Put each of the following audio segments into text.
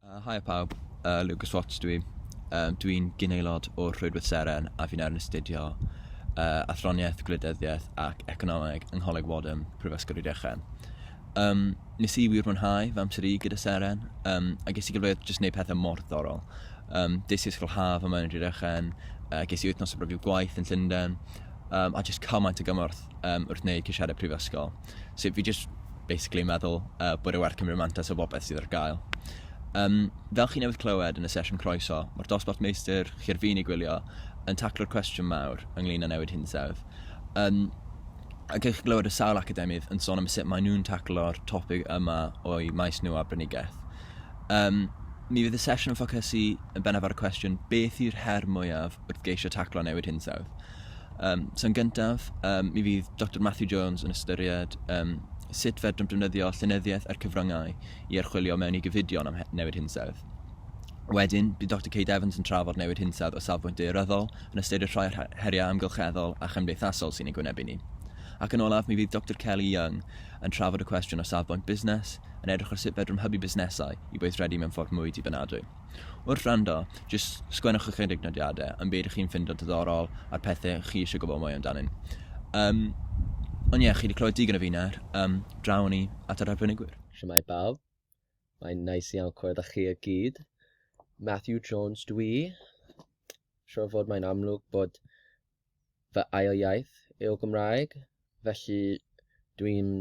Uh, Haia pawb, uh, Lucas Watts dwi. Uh, dwi'n gynaelod o'r Rhwydwaith Seren a fi'n ar yn astudio uh, athroniaeth, gwleidyddiaeth ac economeg yng Ngholeg Wadham, Prifysgol Rhydychen. Um, nes i wir mwynhau fy amser i gyda Seren, um, a ges i gyfleoedd jyst wneud pethau mor ddorol. Um, des i ysgol haf yma yn Rhydychen, uh, ges i wythnos o brofiad gwaith yn Llundain, um, a jyst cymaint o gymorth um, wrth wneud ceisiadau prifysgol. So fi jyst basically yn meddwl uh, bod e werth cymryd mantas o bobeth sydd ar gael. Um, fel chi newydd clywed yn y sesiwn croeso, mae'r dosbarth meistr, chi ar fin ei gwylio, yn taclo'r cwestiwn mawr ynglyn â newid hinsawdd. Um, ac eich glywed y sawl academydd yn sôn am sut maen nhw'n taclo'r topic yma o'i maes nhw a brynigaeth. Um, mi fydd y sesiwn yn ffocysu yn bennaf ar y cwestiwn beth yw'r her mwyaf wrth geisio taclo newid hinsawdd? Um, so yn gyntaf, um, mi fydd Dr Matthew Jones yn ystyried um, sut fedrwn defnyddio llenyddiaeth a'r cyfryngau i archwilio mewn i gyfidion am newid hinsawdd. Wedyn, bydd Dr Kate Evans yn trafod newid hinsawdd o safbwynt deoryddol, yn ystyried rhai o'r heriau amgylcheddol a chymdeithasol sy'n ei gwynebu ni. Ac yn olaf, mi fydd Dr Kelly Young yn trafod y cwestiwn o safbwynt busnes, yn edrych ar sut fedrwn hybu busnesau i weithredu mewn ffordd mwy dibynadwy. Wrth wrando, jyst sgwennwch ychydig nodiadau am beth ydych chi'n ffindo diddorol a'r pethau chi eisiau gwybod mwy amdanyn. Um, ond ie, chi wedi clywed digon o fi nawr, um, draw ni at yr arbenigwyr. Siamai bawb, mae'n nice iawn clywed â chi y gyd. Matthew Jones dw i. Siwr fod mae'n amlwg bod fy ail iaith yw Gymraeg, felly dwi'n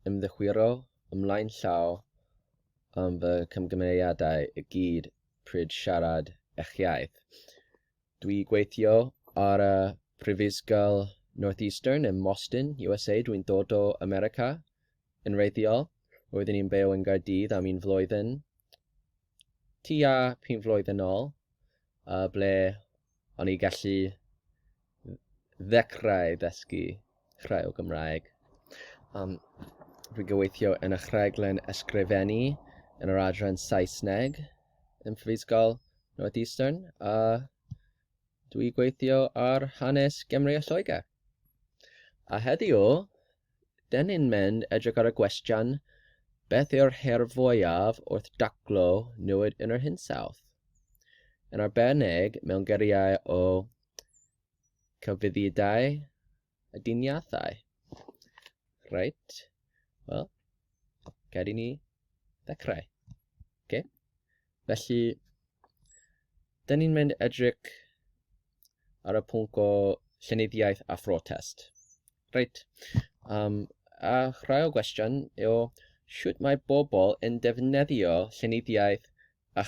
ymddichwiro ymlaen llaw am fy camgymeriadau i gyd pryd siarad eich iaith. Dwi gweithio ar y Prifysgol Northeastern ym Moston, USA. Dwi'n dod o America yn wreiddiol. Roeddwn i'n byw yn Gaerdydd am un flwyddyn, tua pum flwyddyn ôl, uh, ble O'n i gallu ddechrau dysgu rhai o Gymraeg. Um, rwy'n gyweithio yn y rhaglen ysgrifennu yn yr adran Saesneg yn Prifysgol Northeastern a dwi gweithio ar hanes Gymru a Lloegr. A heddiw, 'dyn ni'n mynd edrych ar y gwestiwn, beth yw'r her fwyaf wrth daclo newid yn yr hinsawdd? Yn arbennig mewn geriau o cyfuddidau a diniathau. Reit, wel, gad i ni ddechrau. Okay. Felly, Dyn ni'n mynd edrych ar y pwnc o llenyddiaeth a phrotest. Reit, um, a rhai o gwestiwn yw sut mae bobl yn defnyddio llenyddiaeth a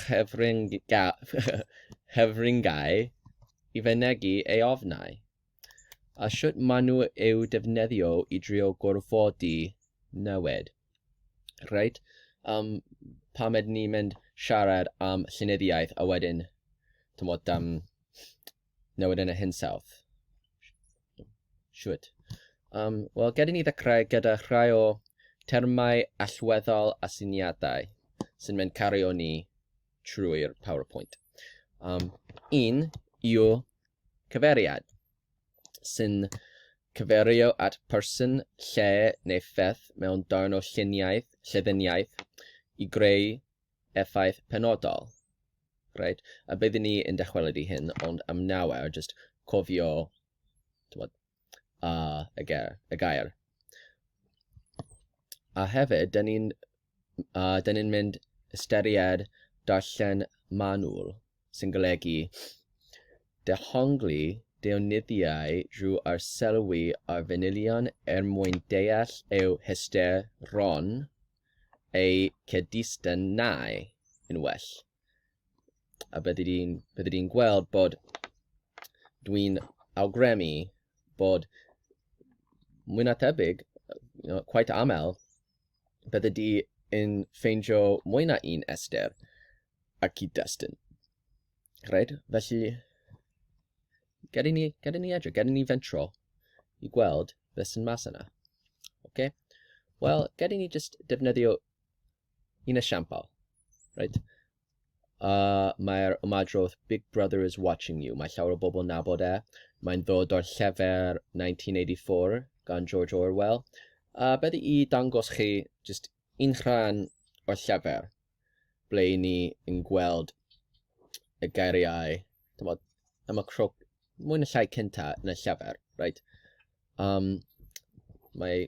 chyfryngau i fynegu ei ofnau. a sut maen nhw eu defnyddio i drio gorfodi newid. Reit, um, pam ydyn ni'n mynd siarad am llenyddiaeth a wedyn, tymod, um, newid yn y hinsawdd? Siwt. Um, Wel, gyda ni ddechrau gyda rhai o termau allweddol a syniadau sy'n mynd cario ni trwy'r PowerPoint. Um, un yw cyfeiriad, sy'n cyferio at person, lle neu pheth mewn darn o lluniaeth, lleddiniaeth, i greu effaith penodol. Right? A byddwn ni yn dychwelyd i hyn, ond am nawr, just cofio, tywod, a y ger- y gair. A hefyd, dyn ni'n uh, dyn ni'n mynd ystyried darllen manwl, sy'n golygu dehongli deunyddiau drwy arselwi ar fanylion er mwyn deall eu hysteron eu cydystynau yn well. A byddi di'n byddi di'n gweld bod dwi'n awgrymu bod mwy na tebyg, you know, quite aml, byddi di yn ffeindio mwy na un Esther a cyd-destun. Right? Felly, gedi ni, gedi ni edrych, gedi ni fentro i gweld beth sy'n mas yna. Okay? Wel, gedi ni just defnyddio Un esiampl, right? Uh, Mae'r ymadrodd Big Brother is watching you. Mae llawer o bobl yn nabod e. Mae'n ddod o'r llefer 1984 gan George Orwell. Uh, beth i dangos chi just un rhan o'r llefer ble i ni yn gweld y geiriau tymod, am y crwc mwy na llai cynta yn y llefer. Right? Um, mae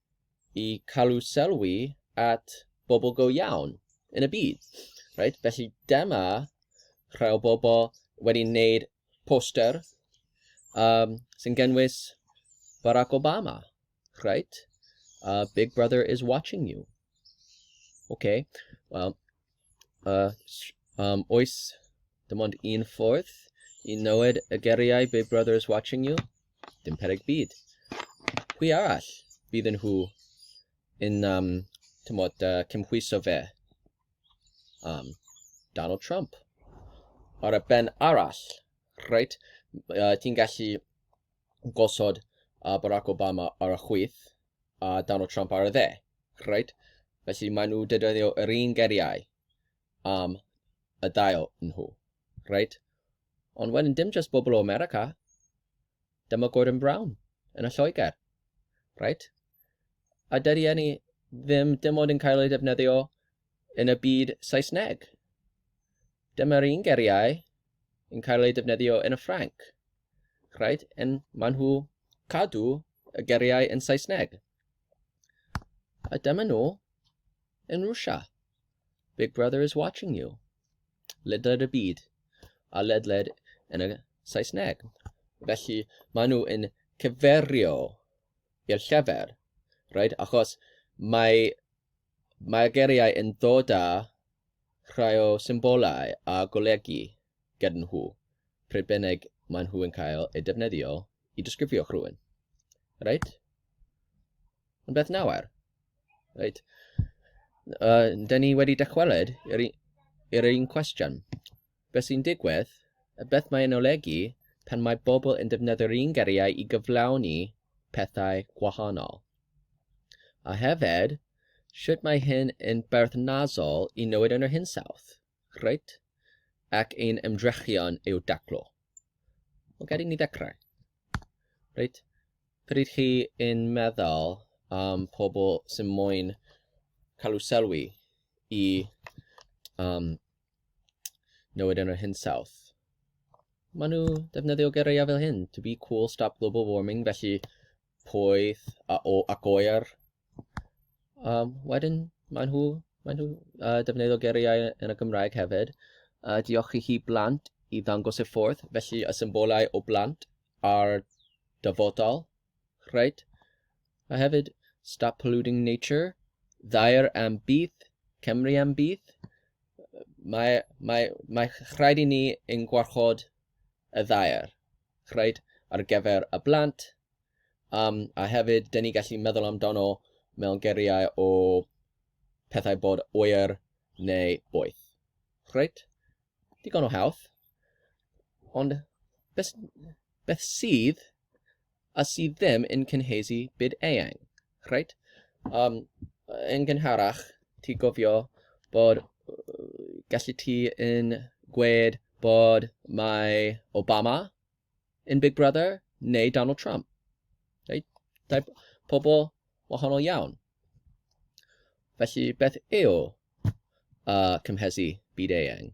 i calu sylwi at bobl go iawn yn y byd. Right? Felly dyma rhai o bobl wedi wneud poster um, sy'n gynnwys Barack Obama. Right? Uh, Big Brother is watching you. Okay. Well, A um, oes dim ond un ffordd i nywed y geriau Big Brother is watching you? Dim pereg byd. Pwy arall bydd yn nhw yn um, tymod, uh, cymhwyso fe? Um, Donald Trump. Ar y ben arall, reit, uh, ti'n gallu gosod uh, Barack Obama ar y chwyth a Donald Trump ar y dde. Reit, felly maen nhw dedyddio yr un geriau am y dail nhw. Reit? Ond wedyn, dim just bobl o America. Dyma Gordon Brown yn y Lloegr. Reit? A dydy enni ddim dim ond yn cael ei defnyddio yn y byd Saesneg. Dyma'r un geriau yn cael ei defnyddio yn y Ffranc. Reit? Yn maen nhw cadw y geriau yn Saesneg. A dyma nhw yn Rwsia. Big Brother is watching you. Ledled y byd, a ledled yn y Saesneg. Felly, maen nhw yn cyferio i'r llyfr, right? achos mae, mae geiriau yn dod â rhai o symbolau a golygu gyda nhw pryd bynnag maen nhw yn cael eu defnyddio i disgrifio rhywun. Reit? Yn beth nawr? Reit. Uh, da ni wedi dychwelyd i'r un cwestiwn. Beth sy'n digwydd, a beth mae'n olegu pan mae bobl yn defnyddio'r un geriau i gyflawni pethau gwahanol. A hefyd, sut mae hyn yn berthnasol i newid yn yr hinsawdd? Reit. Ac ein ymdrechion yw daclo. Wel, gad i ni ddechrau. Reit. Pryd chi yn meddwl am pobl sy'n moyn cael eu sylwi i um, newid yn yr hinsawdd, maen nhw defnyddio geiriau fel hyn, to be cool, stop global warming, felly poeth a o, ac oer. Um, wedyn, maen nhw, maen nhw uh, defnyddio geriau yn y Gymraeg hefyd. Uh, diolch i chi blant i ddangos y ffordd, felly y symbolau o blant a'r dyfodol. Rhaid. A hefyd, stop polluting nature, ddair am bydd, Cymru am bydd. Mae, mae, mae rhaid i ni yn gwarchod y ddair. reit, ar gyfer y blant, um, a hefyd, dyn ni gallu meddwl amdano mewn geriau o pethau bod oer neu boeth. Reit, digon o hawdd. Ond beth, beth sydd a sydd ddim yn cynhesu byd eang? Reit. Um, yn gynharach, ti gofio bod gallu ti yn gwed bod mae Obama yn Big Brother neu Donald Trump. Reit? Dau pobl wahanol iawn. Felly beth yw uh, cymhesu byd eang?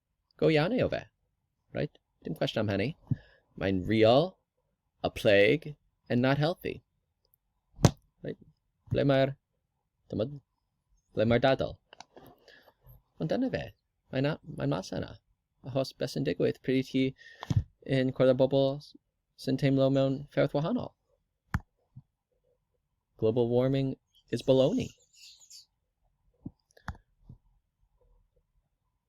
Go iawn yw fe. Right? Dim cwestiwn am hynny. Mae'n real, a plague, and not healthy. Right? Ble mae'r... Ble mae'r dadl? Ond dyna fe. Mae'n mae mas yna. Achos beth sy'n digwydd pryd i chi yn cwrdd â bobl sy'n teimlo mewn fferth wahanol. Global warming is baloney.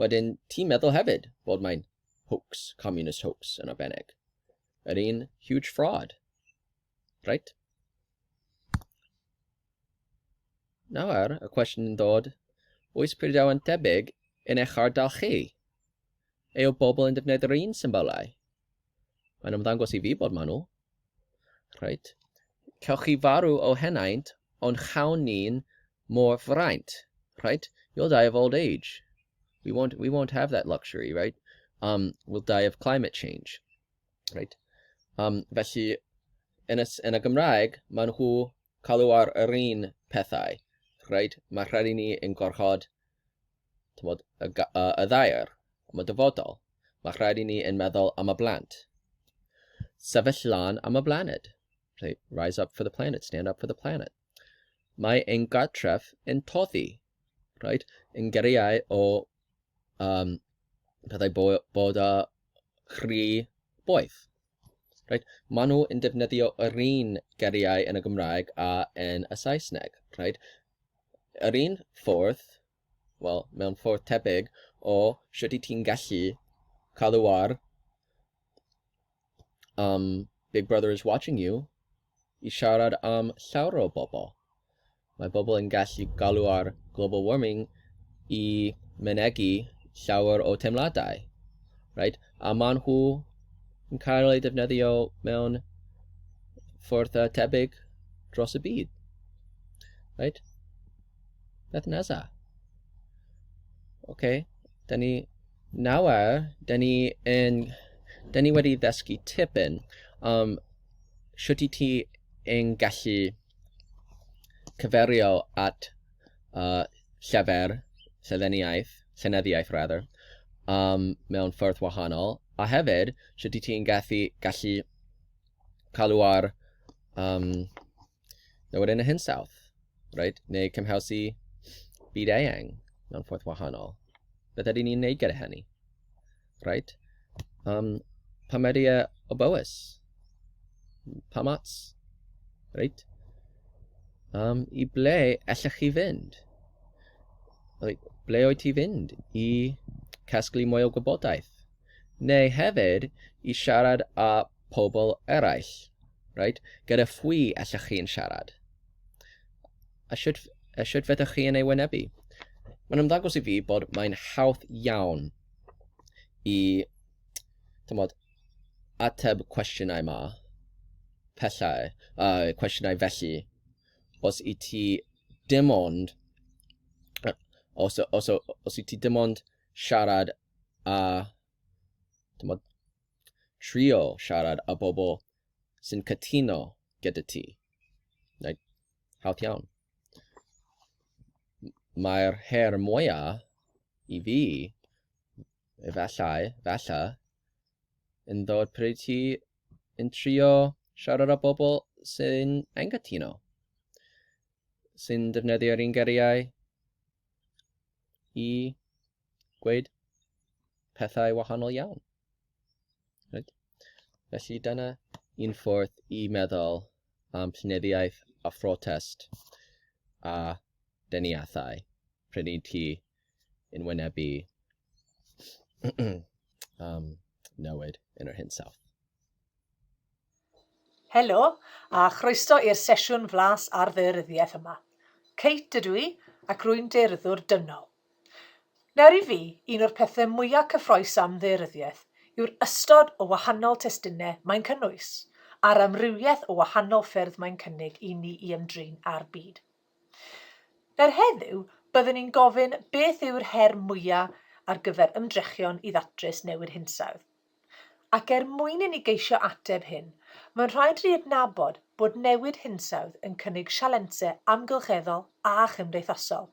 Wedyn, ti'n meddwl hefyd fod mae'n hoax, communist hoax yn arbennig. Yr un huge fraud. Right? Nawr, y cwestiwn yn dod, oes Prydain tebyg yn eich ardal chi? Ei o bobl yn defnyddio'r un symbolau? Mae'n ymddangos i fi bod maen nhw. Rhaid. Cewch chi farw o henaint, ond chawn ni'n mor fraint. Rhaid. You'll die of old age. We won't, we won't have that luxury, right? Um, we'll die of climate change. Right? Um, felly, yn y, yn y Gymraeg, maen nhw cael nhw ar yr un pethau. Right? Mae rhaid i ni yn gorchod Tymod, y, y, y ddaear, am y dyfodol. Mae rhaid i ni yn meddwl am y blant. Sefyll lan am y blaned. Right, rise up for the planet, stand up for the planet. Mae ein gartref yn toddi. Right, yn geriau o um, pethau bod, bod a chri boeth. Reit, maen nhw yn defnyddio yr un geriau yn y Gymraeg a yn y Saesneg. Reit? Yr un ffordd, wel, mewn ffordd tebyg o sut i ti'n gallu cadw ar um, Big Brother is watching you, i siarad am llawer o bobl. Mae pobl yn gallu galw ar global warming i mynegi llawer o teimladau, right? a maen nhw yn cael eu defnyddio mewn ffordd tebyg dros y byd. Right? Beth nesa? Oce, okay. da ni nawr, da ni, yn, da ni wedi ddysgu tipyn am shwt i ti yn gallu cyferio at uh, llefer, lleddeniaeth, llenyddiaeth rather, um, mewn ffyrdd wahanol, a hefyd, shwt i ti'n gallu, gallu cael ar um, Nawr wedyn y hinsawdd, right? neu cymhawsu byd eang mewn ffordd wahanol. Beth ydyn ni'n neud gyda hynny? Right? Um, pa media o bywys? Pa mats? Right? Um, I ble allech chi fynd? Like, ble oed ti fynd i casglu mwy o gwybodaeth? Neu hefyd i siarad â pobl eraill, right? Gyda phwy allwch chi'n siarad? A sut, a sut fedrwch chi yn ei wynebu? Mae'n ymddangos i fi bod mae'n hawdd iawn i tymod, ateb cwestiynau ma, pellau, uh, cwestiynau felly, os i ti dim ond, os, os, os i ti dim ond siarad a tymod, Trio siarad â bobl sy'n cytuno gyda ti. Neu, hawdd iawn. Mae'r her mwyaf i fi, efallai, falla, yn ddod pryd ti yn trio siarad â bobl sy'n anghytuno, sy'n defnyddio'r un geriau i gweud pethau wahanol iawn. Right? Felly dyna un ffordd i meddwl am llenyddiaeth a phrotest a deniathau pryd i ti yn wynebu um, newid yn yr hinsawdd. Helo, a chroeso i'r sesiwn flas ar ddaearyddiaeth yma. Kate ydw i, ac rwy'n daearyddwr dynol. Nawr i fi, un o'r pethau mwyaf cyffroes am ddaearyddiaeth yw'r ystod o wahanol testunau mae'n cynnwys, a'r amrywiaeth o wahanol ffyrdd mae'n cynnig i ni i ymdrin â'r byd. Nawr heddiw, byddwn i'n gofyn beth yw'r her mwyaf ar gyfer ymdrechion i ddatrys newid hinsawdd. Ac er mwyn i ni geisio ateb hyn, mae'n rhaid i ni adnabod bod newid hinsawdd yn cynnig sialensau amgylcheddol a chymdeithasol.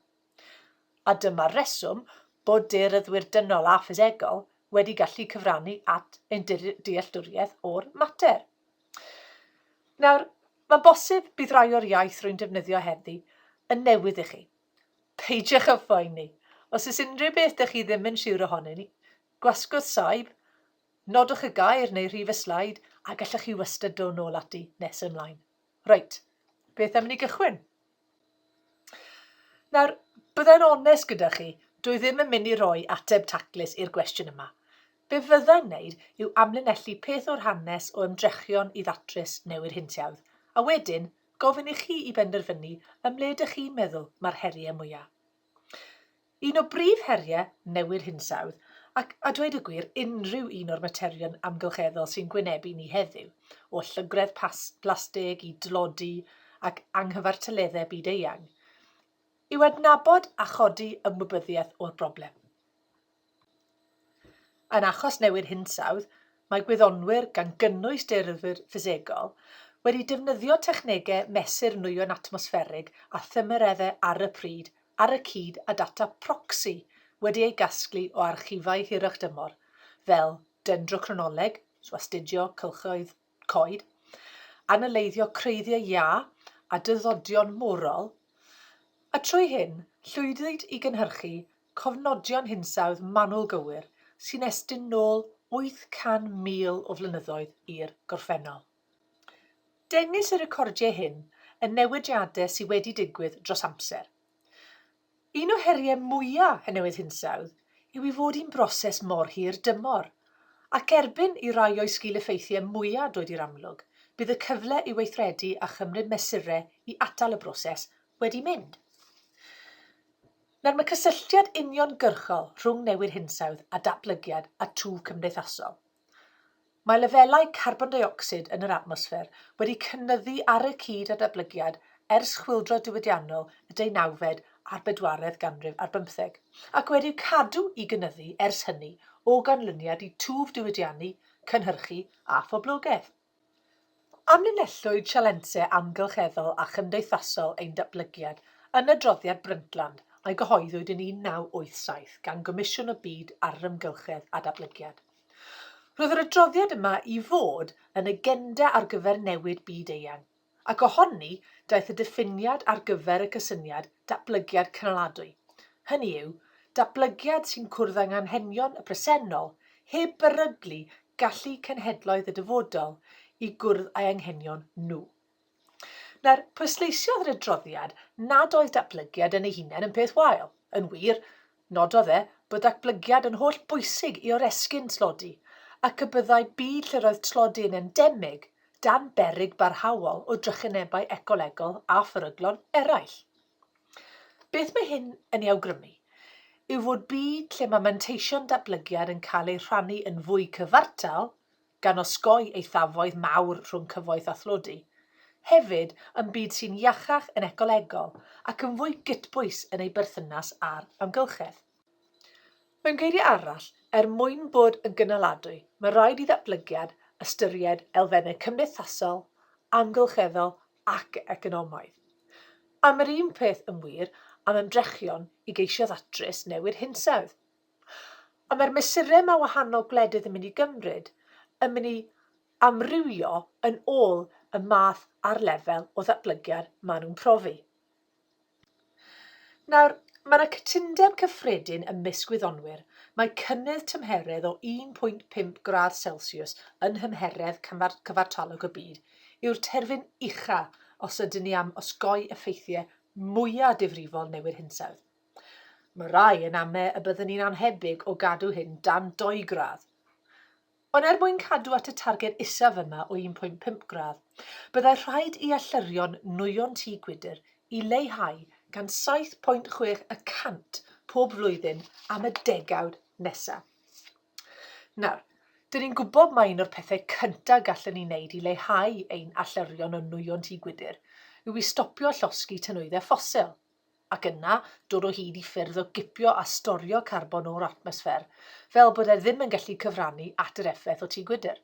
A dyma'r reswm bod daearyddwyr dynol a ffisegol wedi gallu cyfrannu at ein dealltwriaeth o'r mater. Nawr, mae'n bosib bydd rai o'r iaith rwy'n defnyddio heddi yn newydd i chi. Peidiwch â phoeni. Os oes unrhyw beth dych chi ddim yn siwr ohonyn ni, Gwasgwrdd saib, nodwch y gair neu rhif y sleid a gallwch chi wastad dod nôl ati nes ymlaen. Reit, beth am ni gychwyn? Nawr, byddai'n onest gyda chi, dwi ddim yn mynd i roi ateb taclus i'r gwestiwn yma. Be fyddai'n wneud yw amlinellu peth o'r hanes o ymdrechion i ddatrys newid hintiawdd, a wedyn gofyn i chi i benderfynu ymle dych chi'n meddwl mae'r heriau mwyaf. Un o brif heriau newid hinsawdd, ac, a dweud y gwir, unrhyw un o'r materion amgylcheddol sy'n gwynebu ni heddiw, o llygredd plastig i dlodi ac anghyfartaleddau byd-eang, yw adnabod a chodi ymwybyddiaeth o'r broblem. Yn achos newid hinsawdd, mae gwyddonwyr, gan gynnwys dearthwyr ffisegol, wedi defnyddio technegau mesur nwyon atmosfferig a thymereddau ar y pryd ar y cyd â data proxy wedi ei gasglu o archifau hirach-dymor, fel dendrochronoleg, so astudio cylchoedd, coed, analyddio creiddiau iâ a dyddodion morol, a trwy hyn, llwyddwyd i gynhyrchu cofnodion hinsawdd manwl gywir sy'n estyn nôl 800,000 o flynyddoedd i'r gorffennol. Dengys y recordiau hyn y newidiadau sydd wedi digwydd dros amser, Un o heriau mwyaf y newid hinsawdd yw ei fod hi'n broses mor hir dymor, ac erbyn i rai o'i sgil-effeithiau mwyaf dod i'r amlwg, bydd y cyfle i weithredu a chymryd mesurau i atal y broses wedi mynd. Nawr, mae cysylltiad uniongyrchol rhwng newid hinsawdd a datblygiad a twf cymdeithasol. Mae lefelau carbon deuocsid yn yr atmosffer wedi cynyddu ar y cyd â datblygiad ers chwyldro diwydiannol y deunawfed a'r bedwaredd ganrif ar bymtheg, ac wedi'u cadw i gynyddu ers hynny o ganlyniad i twf diwydiannu, cynhyrchu a phoblogaeth. Amlinellwyd sialensau amgylcheddol a chymdeithasol ein datblygiad yn adroddiad Brundtland a gyhoeddwyd yn 1987 gan Gomisiwn y Byd ar yr Amgylchedd a Datblygiad. Roedd yr adroddiad yma i fod yn agenda ar gyfer newid byd-eang. Ac o honni daeth y diffiniad ar gyfer y cysyniad 'datblygiad cynaladwy', hynny yw, datblygiad sy'n cwrdd â nghanghenion y presennol heb beryglu gallu cenhedloedd y dyfodol i gwrdd â'i anghenion nhw. Nawr, pwysleisiodd yr adroddiad nad oedd datblygiad yn ei hunain yn peth wael. Yn wir, Nododd e bod datblygiad yn holl bwysig i oresgyn tlodi ac y byddai byd lle roedd tlodi yn endemig dan beryg barhaol o drychinebau ecolegol a pheryglon eraill. Beth mae hyn yn ei awgrymu yw fod byd lle mae manteision datblygiad yn cael eu rhannu yn fwy cyfartal gan osgoi eithafoedd mawr rhwng cyfoeth a thlodi, hefyd yn byd sy'n iachach yn ecolegol ac yn fwy gytbwys yn ei berthynas â'r amgylchedd. Mewn geiriau arall, er mwyn bod yn gynaladwy, mae rhaid i ddatblygiad ystyried elfennau cymdeithasol, amgylcheddol ac economaidd. A mae'r un peth yn wir am ymdrechion i geisio ddatrys newid hinsawdd. Ond mae'r mesurau mae wahanol gwledydd yn mynd i gymryd yn mynd i amrywio yn ôl y math a'r lefel o ddatblygiad maen nhw'n profi. Nawr, mae yna cytundeb cyffredin ymysg gwyddonwyr mai cynnydd tymheredd o 1.5 gradd Celsius yn nhymheredd cyfartalog y byd yw'r terfyn ucha os ydyn ni am osgoi effeithiau mwyaf difrifol newid hinsawdd. Mae rhai yn ame y byddwn ni'n annhebyg o gadw hyn dan dou gradd. Ond er mwyn cadw at y targed isaf yma o 1.5 gradd, byddai rhaid i allyrion nwyon tŷ gwydr i leihau gan 7.6 y cant pob flwyddyn am y degawd nesaf. Nawr, dyn ni'n gwybod mai un o'r pethau cyntaf gallwn ni wneud i leihau ein allyrion o nwyon tŷ gwydr yw i stopio llosgi tynwyddau ffosil. ac yna dod o hyd i ffyrdd o gipio a storio carbon o'r atmosffer, fel bod e ddim yn gallu cyfrannu at yr effaith o tŷ gwydr.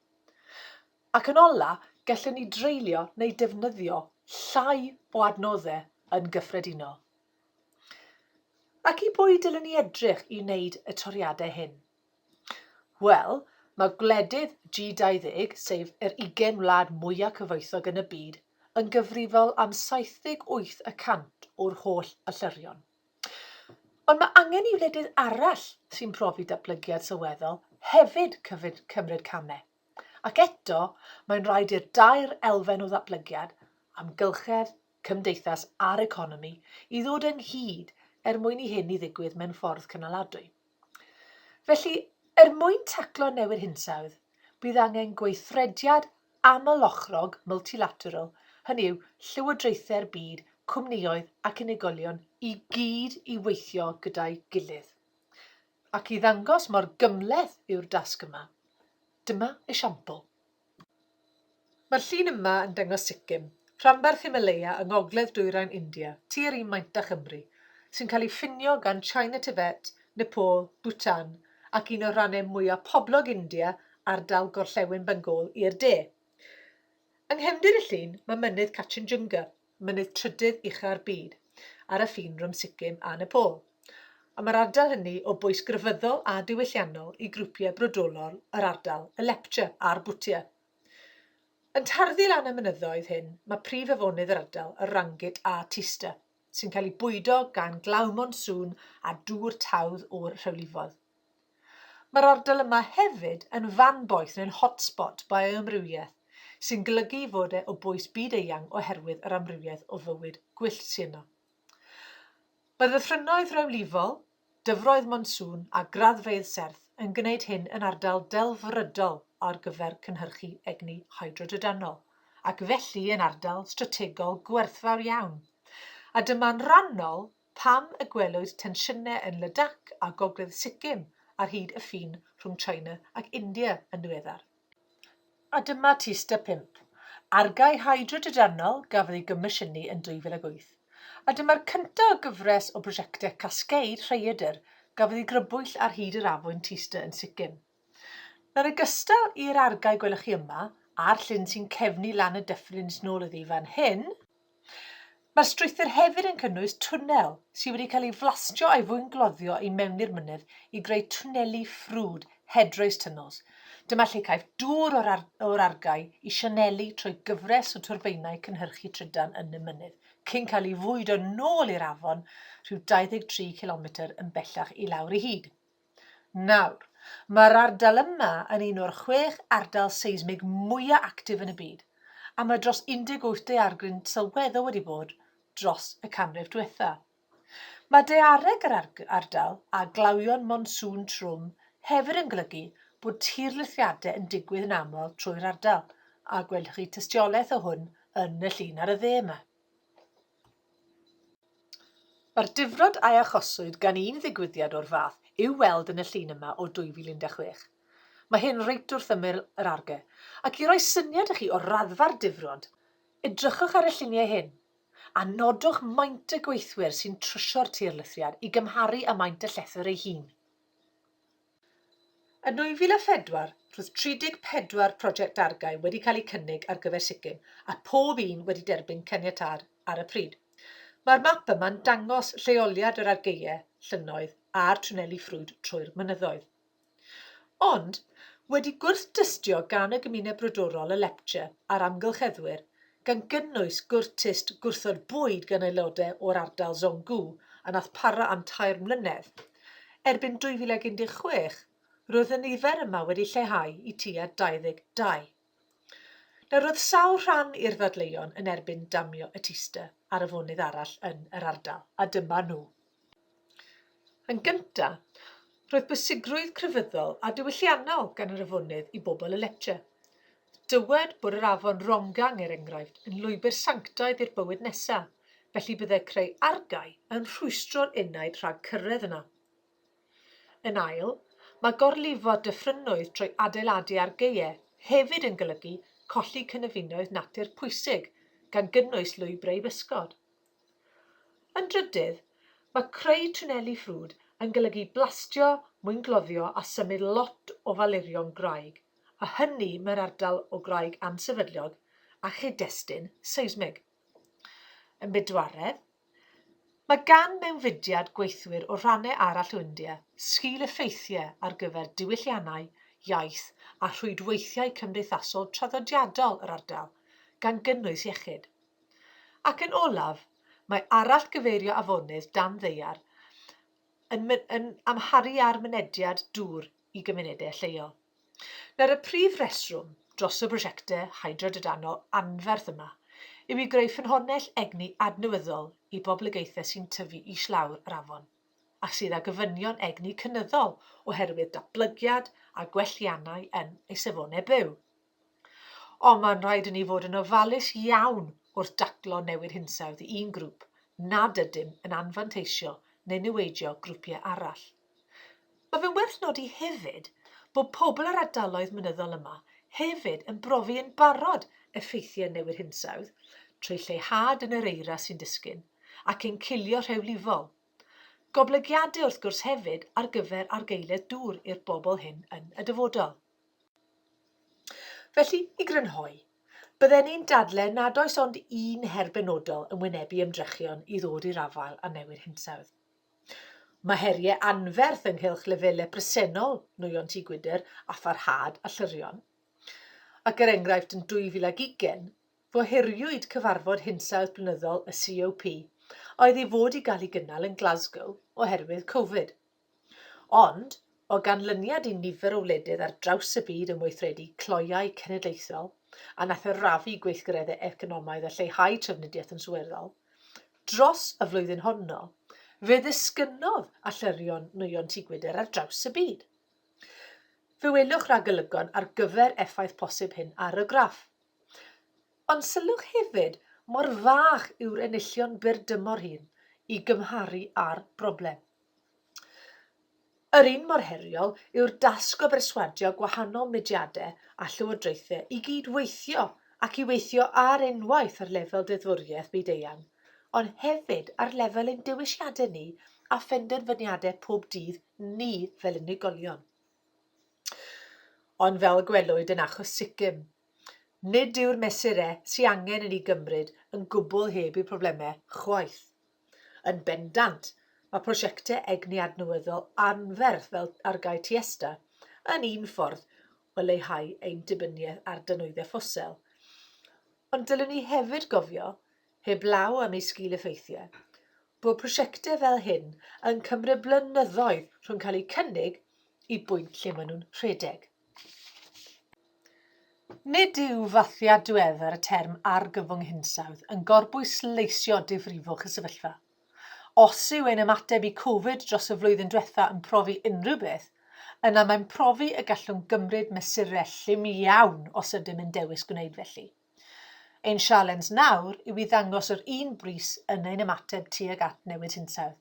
Ac yn ola, gallwn ni dreulio neu defnyddio llai o adnoddau yn gyffredinol. Ac i bwy dylwn ni edrych i wneud y toriadau hyn? Wel, mae gwledydd G20, sef yr 20 wlad mwyaf cyfoethog yn y byd, yn gyfrifol am 78 y cant o'r holl allyrion. Ond mae angen i wledydd arall sy'n profi datblygiad sylweddol hefyd cymryd camau. Ac eto, mae'n rhaid i'r dair elfen o ddatblygiad, amgylchedd, cymdeithas a'r economi, i ddod ynghyd er mwyn i hyn i ddigwydd mewn ffordd cynaladwy. Felly, er mwyn taclo newid hinsawdd, bydd angen gweithrediad aml-ochrog multilateral, hynny yw, llywodraethau'r byd, cwmnïoedd ac unigolion i gyd i weithio gyda'i gilydd. Ac i ddangos mor gymhleth yw'r dasg yma, dyma esiampl. Mae'r llun yma yn dangos Sikkim, rhanbarth Himalaya yng ngogledd dwyrain India, tua'r un maint â Chymru, sy'n cael ei ffinio gan China Tibet, Nepal, Bhutan ac un o'r rannau mwyaf poblog India, ardal gorllewin Bengal, i'r de. Yng nghefndir y llun mae mynydd Kachinjunga, mynydd trydydd ucha'r byd, ar y ffin rhwng Sikkim a Nepal, a mae'r ardal hynny o bwys grefyddol a diwylliannol i grwpiau brodorol yr ardal, y Lepcha a'r Bhutia. Yn tarddu lan y mynyddoedd hyn, mae prif afonydd yr ardal, y Rangit a Teesta, sy'n cael eu bwydo gan glaw monsŵn a dŵr tawdd o'r rhewlifoedd. Mae'r ardal yma hefyd yn fanboeth neu'n hotspot bioamrywiaeth, sy'n golygu ei fod e o bwys byd-eang oherwydd yr amrywiaeth o fywyd gwyllt sy' yno. Mae ddyfrynnoedd rewlifol, dyfroedd monsŵn a graddfeydd serth yn gwneud hyn yn ardal delfrydol ar gyfer cynhyrchu egni hydrodrydanol, ac felly yn ardal strategol gwerthfawr iawn, a dyma'n rhannol Pam y gwelwyd tensiynau yn Ladakh a Gogledd Sikkim ar hyd y ffin rhwng China ac India yn ddiweddar? A dyma tyst a phump. Argae hydrodrydanol gafodd ei gomisiynu yn 2008, a dyma'r cyntaf o gyfres o brosiectau cascade rhaeadr gafodd ei grybwyll ar hyd yr afwyn Tysta yn Sikkim. Nawr yn gystal i'r argae gwelwch chi yma, a'r llyn sy'n cefnu lan y dyffryn sy'n ôl iddi fan hyn, mae'r strwythur hefyd yn cynnwys twnnel sydd wedi cael ei flastio a'i fwyngloddio i mewn i'r mynydd i greu twnneli ffrwd, headrace tunnels. Dyma lle caiff dŵr o'r, ar o'r argae i sianelu trwy gyfres o twrbeinau cynhyrchu trydan yn y mynydd, cyn cael ei fwydo nôl i'r afon rhyw 23 cilometr yn bellach i lawr i hyd. Nawr, mae'r ardal yma yn un o'r chwech ardal seismig mwyaf actif yn y byd, a mae dros 18 daeargryn sylweddol wedi bod dros y canrif diwetha'. Mae daeareg yr ardal a glawion monsŵn trwm hefyd yn golygu bod tirlithriadau yn digwydd yn aml trwy'r ardal, a gwelwch chi tystiolaeth o hwn yn y llun ar y dde yma. Mae'r difrod a achoswyd gan un ddigwyddiad o'r fath i'w weld yn y llun yma o 2016. Mae hyn reit wrth ymyl yr arge, ac i roi syniad i chi o raddfa'r difrod, edrychwch ar y lluniau hyn, a nodwch maint y gweithwyr sy'n trysio'r tirlithriad i gymharu â maint y llethr ei hun. Yn 2004, roedd 34 project dargau wedi cael eu cynnig ar gyfer Sikkim a phob un wedi derbyn caniatâd ar y pryd. Mae'r map yma'n dangos lleoliad yr argaeau, llynnoedd a'r twneli ffrwd trwy'r mynyddoedd. Ond, wedi gwrth-dystio gan y gymuned brodorol y Lepcha a'r amgylcheddwyr, gan gynnwys gwrtist gwrthod bwyd gan aelodau o'r ardal Zhonggu a wnaeth para am tair mlynedd. Erbyn 2016, roedd y nifer yma wedi lleihau i tua 22. Nawr, roedd sawl rhan i'r ddadleuon yn erbyn damio y Teaster ar afonydd arall yn yr ardal, a dyma nhw. Yn gyntaf, roedd bwysigrwydd crefyddol a diwylliannol gan yr afonydd i bobl y Lecce. Dywed bod yr afon Rongang, er enghraifft, yn lwybr sanctaidd i'r bywyd nesaf, felly byddai creu argae yn rhwystro'r enaid rhag cyrraedd yna. Yn ail, mae gorlifo dyffrynnoedd trwy adeiladu argaeau hefyd yn golygu colli cynefinoedd natur pwysig, gan gynnwys lwybrau i bysgod. Yn drydydd, mae creu twnneli ffrwd yn golygu blastio, mwyngloddio a symud lot o falurion graig, a hynny mewn ardal o graig ansefydliog a chyd-destun seismig. Yn bedwaredd, mae gan mewnfudiad gweithwyr o rannau arall o India sgil-effeithiau ar gyfer diwylliannau, iaith a rhwydweithiau cymdeithasol traddodiadol yr ardal, gan gynnwys iechyd. Ac yn olaf, mae arallgyfeirio afonydd dan ddaear yn yn amharu ar mynediad dŵr i gymunedau lleol. Nawr, y prif reswm dros y prosiectau hydrodrydanol anferth yma yw i greu ffynhonnell egni adnewyddol i boblogaethau sy'n tyfu islawr yr afon a sydd â gofynion egni cynyddol oherwydd datblygiad a gwelliannau yn eu safonau byw. Ond mae'n rhaid i ni fod yn ofalus iawn wrth daclo newid hinsawdd i un grŵp nad ydym yn anfanteisio neu niweidio grwpiau arall. Mae fe'n werth nodi hefyd bod pobl yr ardaloedd mynyddol yma hefyd yn brofi yn barod effeithiau newid hinsawdd trwy lleihad yn yr eira sy'n disgyn ac ein cilio rhewlifol. Goblygiadau wrth gwrs hefyd ar gyfer argaeledd dŵr i'r bobl hyn yn y dyfodol. Felly, i grynhoi, bydden i'n dadlau nad oes ond un her benodol yn wynebu ymdrechion i ddod i'r afael â newid hinsawdd. Mae heriau anferth ynghylch lefelau presennol nwyon tŷ gwydr a pharhad a llyrion. Ac er enghraifft yn 2020, gohiriwyd cyfarfod hinsawdd blynyddol y COP a oedd i fod i gael ei gynnal yn Glasgow oherwydd Covid. Ond, o ganlyniad i nifer o wledydd ar draws y byd yn weithredu cloiau cenedlaethol a nath arafu gweithgareddau economaidd a lleihau trafnidiaeth yn sylweddol dros y flwyddyn honno, fe ddisgynnodd allyrio'n nwyon tŷ gwydr ar draws y byd. Fe welwch ragolygon ar gyfer effaith posib hyn ar y graff. Ond sylwch hefyd mor fach yw'r enillion byr dymor hyn i gymharu â'r broblem. Yr un mor heriol yw'r dasg o berswadio gwahanol mudiadau a llywodraethau i gyd-weithio ac i weithio ar unwaith ar lefel deddfwriaeth byd-eang, ond hefyd ar lefel ein dewisiadau ni a phenderfyniadau pob dydd ni fel unigolion. Ond fel y gwelwyd yn achos Sikkim, nid yw'r mesurau sy angen i ni gymryd yn gwbl heb eu problemau chwaith. Yn bendant, mae prosiectau egni adnewyddol anferth fel Argae Tiesta yn un ffordd o leihau ein dibyniaeth ar dynwyddau ffosil. Ond dylwn ni hefyd gofio, heblaw am eu sgil-effeithiau, bod prosiectau fel hyn yn cymryd blynyddoedd rhwng cael eu cynnig i bwynt lle maen nhw'n rhedeg. Nid yw fathiad diweddar y term 'argyfwng hinsawdd' yn gorbwysleisio difrifwch y sefyllfa. Os yw ein ymateb i Covid dros y flwyddyn diwetha' yn profi unrhyw beth, yna mae'n profi y gallwn gymryd mesurau llym iawn os ydym yn dewis gwneud felly. Ein sialens nawr yw i ddangos yr un brys yn ein ymateb tuag at newid hinsawdd.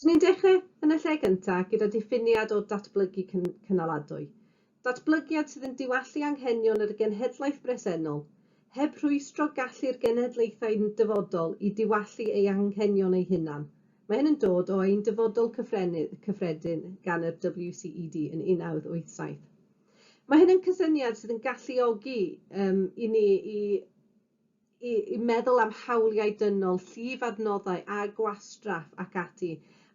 So ni'n dechrau yn y lle gyntaf gyda diffiniad o datblygu cynaladwy. Datblygiad sydd yn diwallu anghenion yr genhedlaeth bresennol, heb rhwystro gallu'r genhedlaethau yn dyfodol i diwallu ei anghenion eu hunan. Mae hyn yn dod o ein Dyfodol Cyffredin gan yr WCED yn 1987. Mae hyn yn cysyniad sydd yn galluogi um, i ni i i i meddwl am hawliau dynol, llif adnoddau a gwastraff ac ati,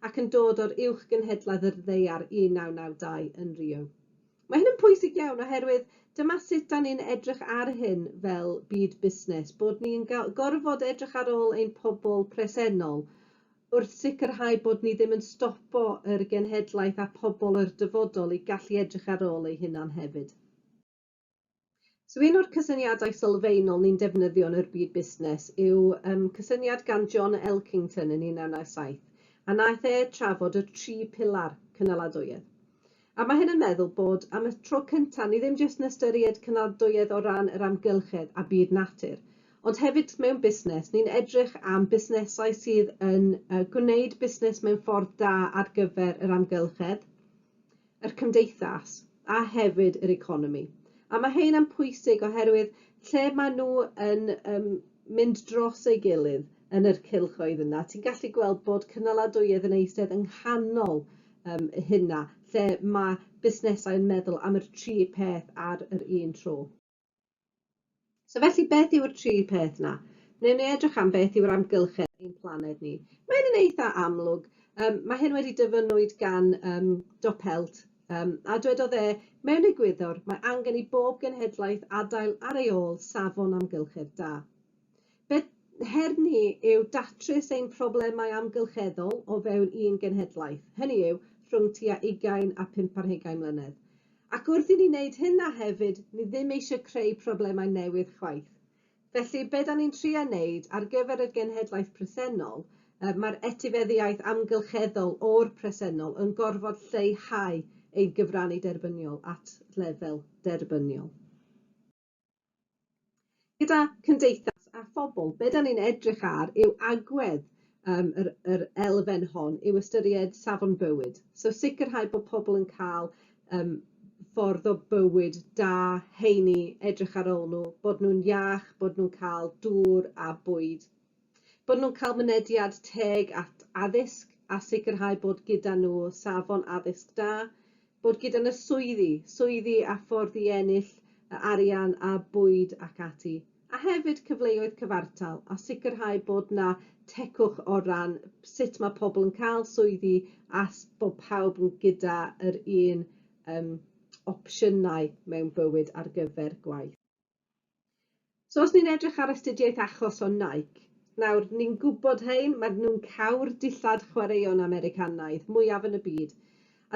ac yn dod o'r Uwch Gynhedlaeth yr Ddaear 1992 yn Rio. Mae hyn yn pwysig iawn oherwydd dyma sut da ni'n edrych ar hyn fel byd busnes, bod ni'n gorfod edrych ar ôl ein pobl presennol wrth sicrhau bod ni ddim yn stopo yr genhedlaeth a phobl yr dyfodol i gallu edrych ar ôl eu hunan hefyd. So un o'r cysyniadau sylfaenol ni'n defnyddio yn yr byd busnes yw um, cysyniad gan John Elkington yn 1997, a naeth e trafod y tri pilar cynaladwyedd. A mae hyn yn meddwl bod am y tro cyntaf ni ddim jyst yn ystyried cynaladwyedd o ran yr amgylchedd a byd natur, ond hefyd mewn busnes, ni'n edrych am busnesau sydd yn uh, gwneud busnes mewn ffordd da ar gyfer yr amgylchedd, yr cymdeithas a hefyd yr economi. A mae hyn yn pwysig oherwydd lle maen nhw yn um, mynd dros ei gilydd yn yr cylchoedd yna, ti'n gallu gweld bod cynaladwyedd yn eistedd yng nghanol um, hynna, lle mae busnesau yn meddwl am yr tri peth ar yr un tro. So felly, beth yw'r tri peth na? Newn ni edrych am beth yw'r amgylchedd ein planed ni. Mae hyn yn eitha amlwg. Um, mae hyn wedi dyfynwyd gan um, Dopelt, um, a dwedodd e, mewn egwyddor, mae angen i bob genhedlaeth adael ar ei ôl safon amgylchedd da. Beth her ni yw datrys ein problemau amgylcheddol o fewn un genhedlaeth, hynny yw, rhwng tua ugain a phump ar hugain mlynedd. Ac wrth i ni wneud hynna hefyd, ni ddim eisiau creu problemau newydd chwaith. Felly, be da ni'n trio wneud ar gyfer yr genhedlaeth presennol, yy, mae'r etifeddiaeth amgylcheddol o'r presennol yn gorfod lleihau ein cyfrannu derbyniol at lefel derbyniol. Gyda cymdeithas a phobl, be dan ni'n edrych ar yw agwedd um, yr, yr elfen hon, yw ystyried safon bywyd. So sicrhau bod pobl yn cael um, ffordd o bywyd da, heini, edrych ar ôl nhw, bod nhw'n iach, bod nhw'n cael dŵr a bwyd. Bod nhw'n cael mynediad teg at addysg a sicrhau bod gyda nhw safon addysg da, bod gyda nhw swyddi, swyddi a ffordd i ennill y arian a bwyd ac ati, a hefyd cyfleoedd cyfartal a sicrhau bod na tecwch o ran sut mae pobl yn cael swyddi a bod pawb yn gyda yr un um, opsiynau mewn bywyd ar gyfer gwaith. So os ni'n edrych ar astudiaeth achos o Nike, nawr ni'n gwybod hein, maen nhw'n cau'r dillad chwaraeon Americanaidd mwyaf yn y byd,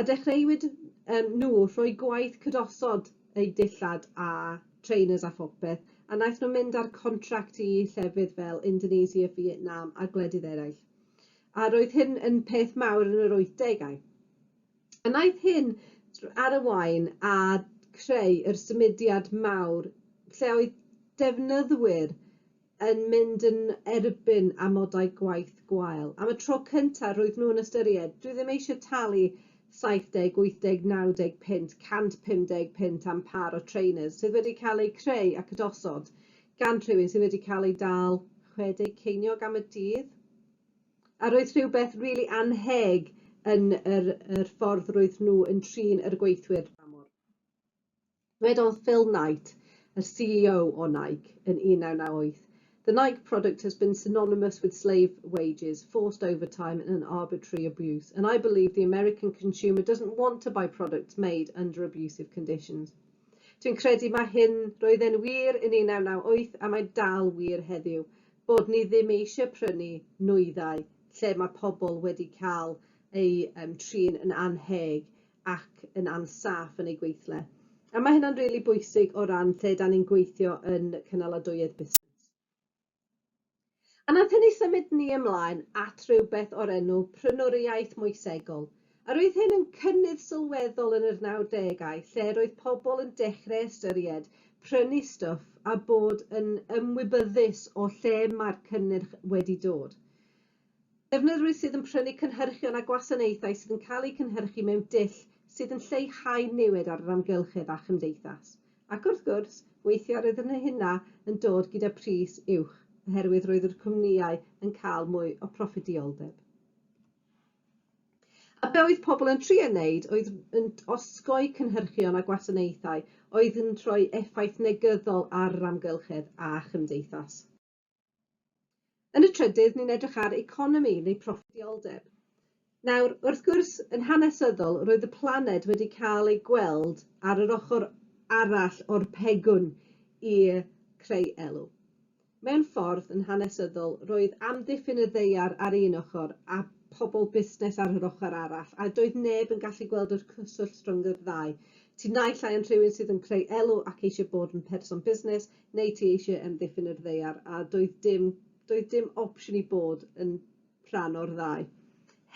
a dechreuwyd um, nhw rhoi gwaith cydosod eu dillad a trainers a phopeth, a naeth nhw mynd ar contract i llefydd fel Indonesia, Vietnam a gwledydd eraill. A roedd hyn yn peth mawr yn yr 80au. A wnaeth hyn ar y waun a chreu yr symudiad mawr lle oedd defnyddwyr yn mynd yn erbyn amodau gwaith gwael. Am y tro cyntaf roedd nhw yn ystyried, dwi ddim eisiau talu 70, 80, 90 punt, 150 punt am pâr o trainers sydd wedi cael eu creu ac ydosod gan rhywun sydd wedi cael ei dal 60 ceiniog am y dydd. A roedd rhywbeth rili annheg yn yr yr ffordd roedd nhw yn trin yr gweithwyr dramor. Dwedodd Phil Knight, yr CEO o Nike, yn 1998, The Nike product has been synonymous with slave wages, forced overtime and arbitrary abuse, and I believe the American consumer doesn't want to buy products made under abusive conditions. Dwi'n credu mae hyn, roedd e'n wir yn 1998 a mae dal wir heddiw. bod ni ddim eisiau prynu nwyddau lle mae pobl wedi cael eu trin yn annheg ac yn ansaff yn eu gweithle. A mae hynna'n rili bwysig o ran lle 'da ni'n gweithio yn cynaladwyedd busnes. A wnaeth hynny symud ni ymlaen at rywbeth o'r enw 'prynwriaeth moesegol', Yr oedd hyn yn cynnydd sylweddol yn yr nawdegau lle yr oedd pobl yn dechreu ystyried prynu stwff a bod yn ymwybyddus o lle mae'r cynnyrch wedi dod. Defnyddwyr sydd yn prynu cynhyrchion a gwasanaethau sydd yn cael eu cynhyrchu mewn dull sydd yn lleihau niwed ar yr amgylchedd a chymdeithas. Ac wrth gwrs, weithiau roedd hyn hynna yn dod gyda pris uwch oherwydd roedd yr cwmnïau yn cael mwy o proffidioldeb. A be oedd pobl yn trio wneud oedd yn osgoi cynhyrchion a gwasanaethau oedd yn rhoi effaith negyddol ar yr amgylchedd a chymdeithas. Yn y trydydd, ni'n edrych ar economi neu proffidioldeb. Nawr, wrth gwrs, yn hanesyddol, roedd y planed wedi cael ei gweld ar yr ochr arall o'r pegwn i creu elw. Mewn ffordd, yn hanesyddol, roedd amddiffyn y ddaear ar un ochr a phobl busnes ar yr ochr arall, a doedd neb yn gallu gweld yr cyswllt rhwng yr ddau. Ti naill ai yn rhywun sydd yn creu elw ac eisiau bod yn person busnes, neu ti eisiau amddiffyn yr ddaear, a doedd dim, doedd dim opsiwn i bod yn rhan o'r ddau.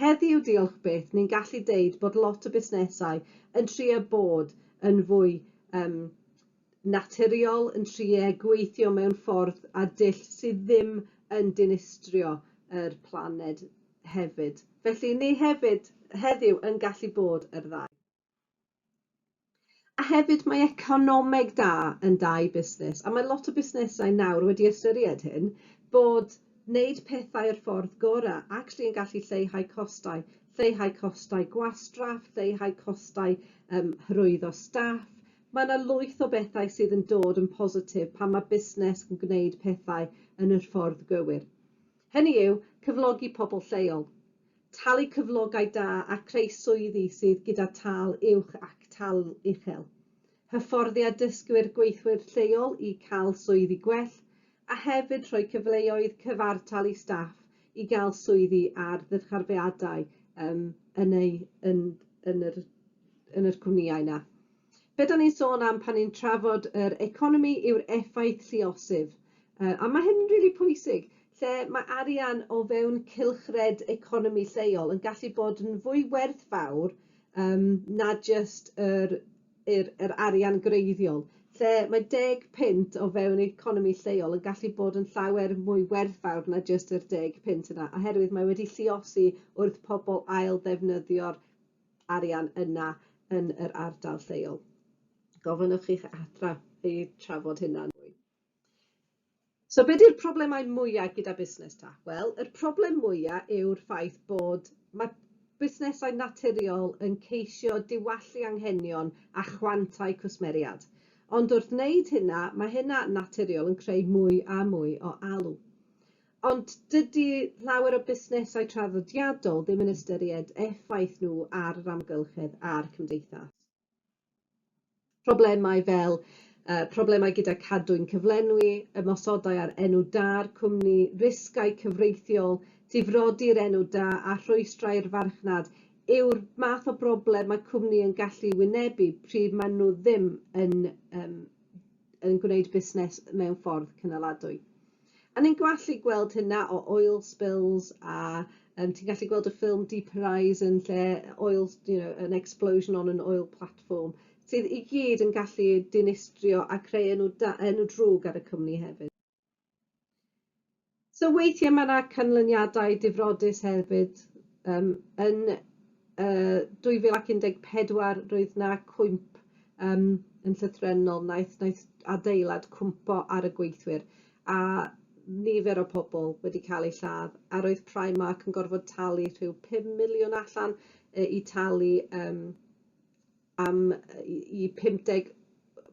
Heddiw, diolch byth, ni'n gallu deud bod lot o busnesau yn trio bod yn fwy um, naturiol yn trio gweithio mewn ffordd a dull sydd ddim yn dinistrio yr planed hefyd. Felly ni hefyd heddiw yn gallu bod yr ddau. A hefyd mae economeg da yn da i busnes a mae lot o busnesau nawr wedi ystyried hyn bod wneud pethau yr ffordd gora actually yn gallu lleihau costau, lleihau costau gwastraff, lleihau costau um, hyrwyddo staff, Mae 'na lwyth o bethau sydd yn dod yn positif pan mae busnes yn gwneud pethau yn y ffordd gywir. Hynny yw, cyflogi pobl lleol, talu cyflogau da a creu swyddi sydd gyda tâl uwch ac tâl uchel. Hyfforddiad dysgwyr gweithwyr lleol i cael swyddi gwell, a hefyd rhoi cyfleoedd cyfartal i staff i gael swyddi ar ddyrcharfeadau yn eu yn yn yr yn yr cwmnïau 'na. Be' 'dan ni'n sôn am pan ni'n trafod yr economi yw'r effaith lluosif yy a ma' hyn yn rili pwysig lle ma' arian o fewn cylchred economi lleol yn gallu bod yn fwy werthfawr yym na jyst yr yr yr arian gwreiddiol lle mae deg punt o fewn economi lleol yn gallu bod yn llawer mwy werthfawr na jyst yr deg punt yna oherwydd mae wedi lluosi wrth pobol ail ddefnyddio'r arian yna yn yr ardal lleol. Gofynnwch i'ch adran eu trafod hynna'n fwy. So be di'r problemau mwyaf gyda busnes ta? Wel, yr problem mwyaf yw'r ffaith bod mae busnesau naturiol yn ceisio diwallu anghenion a chwantau cwsmeriad. Ond wrth wneud hynna, mae hynna naturiol yn creu mwy a mwy o alw. Ond dydi llawer o busnesau traddodiadol ddim yn ystyried effaith nhw ar yr amgylchedd a'r cymdeithas. Problemau fel uh, problemau gyda cadwyn cyflenwi, ymosodau ar enw da'r cwmni, risgau cyfreithiol, difrodi'r enw da a rhwystrau'r farchnad yw'r math o broblem mae cwmni yn gallu wynebu pryd maen nhw ddim yn, um, yn gwneud busnes mewn ffordd cynaladwy. A ni'n gwallu gweld hynna o oil spills a yym ti'n gallu gweld y ffilm Deep Horizon lle oil s- you know an explosion on an oil platform sydd i gyd yn gallu dinistrio a creu enw da- enw drwg ar y cwmni hefyd. So weithie ma' 'na canlyniadau difrodus hefyd yym yn uh, 2014 roedd na cwymp um, yn llythrennol, naeth, naeth adeilad cwmpo ar y gweithwyr a nifer o pobl wedi cael eu lladd a roedd Primark yn gorfod talu rhyw 5 miliwn allan uh, i talu um, am yy i 50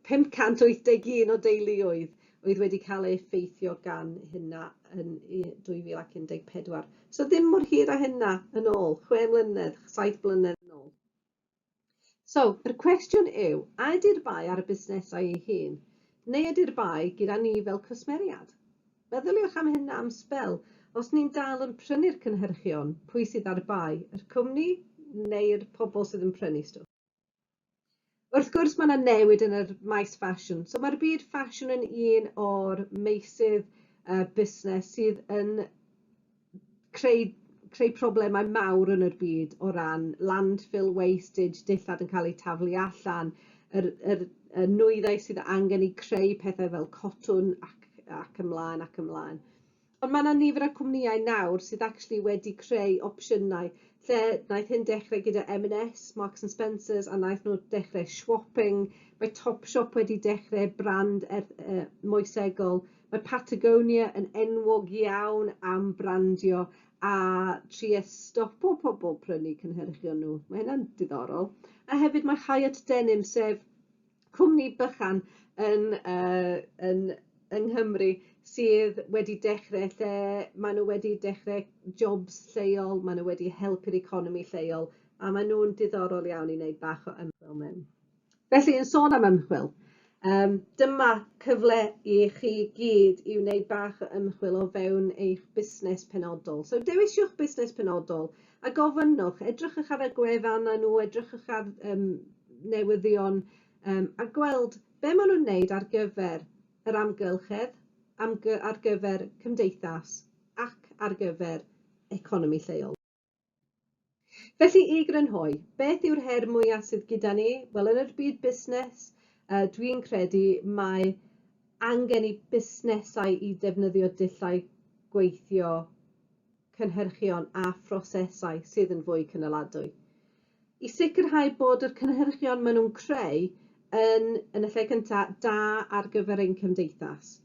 581 o deuluoedd oedd wedi cael ei effeithio gan hynna yn i- 2014. So ddim mor hir â hynna yn ôl, chwe mlynedd, saith blynedd yn ôl. So, yr cwestiwn yw, a ydi'r bai ar y busnesau ei hun, neu ydi'r bai gyda ni fel cwsmeriad? Meddyliwch am hyn am sbel. Os ni'n dal yn prynu'r cynhyrchion, pwy sydd ar bai, yr cwmni neu'r pobl sydd yn prynu stwff? Wrth gwrs mae yna newid yn yr maes ffasiwn. So mae'r byd ffasiwn yn un o'r meysydd uh, busnes sydd yn creu creu problemau mawr yn yr byd o ran landfill wastage, dillad yn ca'l eu taflu allan yr yr y nwyddau sydd angen i creu pethau fel cotwm ac ac ymlaen ac ymlaen. Ond ma' 'na nifer o cwmnïau nawr sydd actually wedi creu opsiynau lle naeth hyn dechre gyda Em yn Ess, Marks and Spencers a naeth nw dechre swopping, mae Topshop wedi dechre brand erth- yy moesegol Mae Patagonia yn enwog iawn am brandio a trio stopo pobl prynu cynhyrchion nhw. Mae hynna'n diddorol. A hefyd mae Hyatt Denim, sef cwmni bychan yn uh, yn yng Nghymru sydd wedi dechrau lle maen nhw wedi dechrau jobs lleol, maen nhw wedi helpu'r economi lleol, a maen nhw'n diddorol iawn i wneud bach o ymchwil mewn. Felly, yn sôn am ymchwil, um, dyma cyfle i chi gyd i wneud bach o ymchwil o fewn eich busnes penodol. So, dewisiwch busnes penodol a gofynnwch, edrychwch ar y gwefannau nhw, edrychwch ar um, newyddion um, a gweld be maen nhw'n wneud ar gyfer yr amgylchedd, amgy ar gyfer cymdeithas ac ar gyfer economi lleol. Felly, i grynhoi, beth yw'r her mwyaf sydd gyda ni? Wel, yn yr byd busnes, dwi'n credu mae angen i busnesau i defnyddio dulliau gweithio, cynhyrchion a phrosesau sydd yn fwy cynaladwy. I sicrhau bod yr cynhyrchion maen nhw'n creu yn, yn y lle cyntaf, da ar gyfer ein cymdeithas.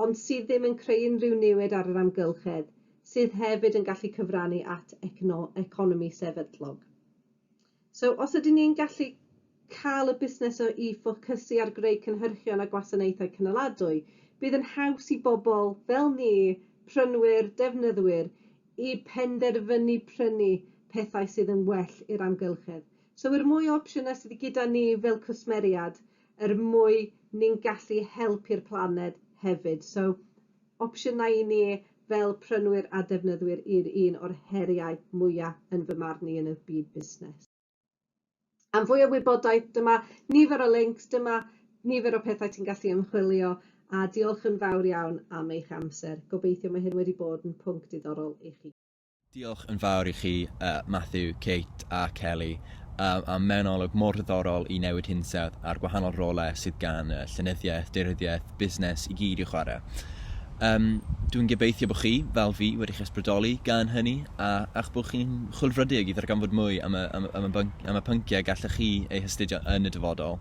ond sydd ddim yn creu unrhyw niwed ar yr amgylchedd, sydd hefyd yn gallu cyfrannu at economi sefydlog. So, os ydyn ni'n gallu cael y busnes o i ffocysu ar greu cynhyrchion a gwasanaethau cynaladwy, bydd yn haws i bobl fel ni, prynwyr, defnyddwyr, i penderfynu prynu pethau sydd yn well i'r amgylchedd. So i'r mwy o opsiynau sydd gyda ni fel cwsmeriad, er mwy ni'n gallu helpu'r planed hefyd. So, opsiynau i ni fel prynwyr a defnyddwyr yw'r un o'r heriau mwya' yn fy marn i yn y byd busnes. Am fwy o wybodaeth, dyma nifer o lincs, dyma nifer o pethau ti'n gallu ymchwilio, a diolch yn fawr iawn am eich amser. Gobeithio mae hyn wedi bod yn pwnc diddorol i chi. Diolch yn fawr i chi, Matthew, Kate a Kelly, am mewn olwg mor ddiddorol i newid hinsawdd a'r gwahanol rolau sydd gan y llenyddiaeth, deiryddiaeth, busnes i gyd i'w chwarae. Um, dwi'n gobeithio bod chi, fel fi, wedi'ch ysbrydoli gan hynny a, a'ch bod chi'n chwilfrydig i ddarganfod mwy am y, am, am y, am y pynciau gallech chi eu hastudio yn y dyfodol.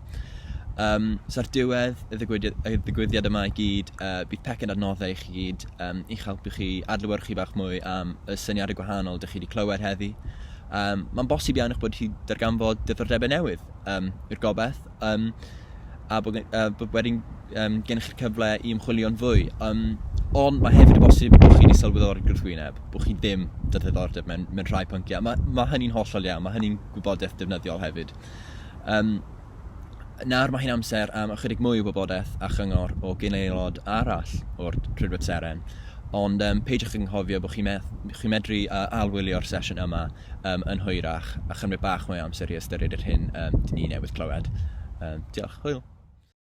Um, so ar diwedd y ddigwyddiad, y ddigwyddiad yma i gyd, uh, bydd pecyn adnoddau i chi gyd um, i'ch helpu chi adlewyrchu bach mwy am y syniadau gwahanol dych chi wedi clywed heddi. Um, Mae'n bosib iawn eich bod chi darganfod dyfrdebau newydd um, i'r gobeith, um, a bod, uh, bod wedyn um, gennych chi'r cyfle i ymchwilio'n fwy. Um, ond mae hefyd y bosib bod chi wedi sylweddoli'r gwrthwyneb, bod chi ddim dy ddiddordeb mewn, mewn rhai pynciau. Mae, mae hynny'n hollol iawn, mae hynny'n gwybodaeth defnyddiol hefyd. Um, Nawr mae hi'n amser am ychydig mwy o wybodaeth a chyngor o gyn-aelod arall o'r Rhydweb Seren, ond um, peidiwch ag anghofio bod chi'n me chi medru uh, alwylio'r sesiwn yma um, yn hwyrach a chymryd bach mwy o amser i ystyried yr hyn um, dyn ni newydd clywed. Um, diolch, hwyl!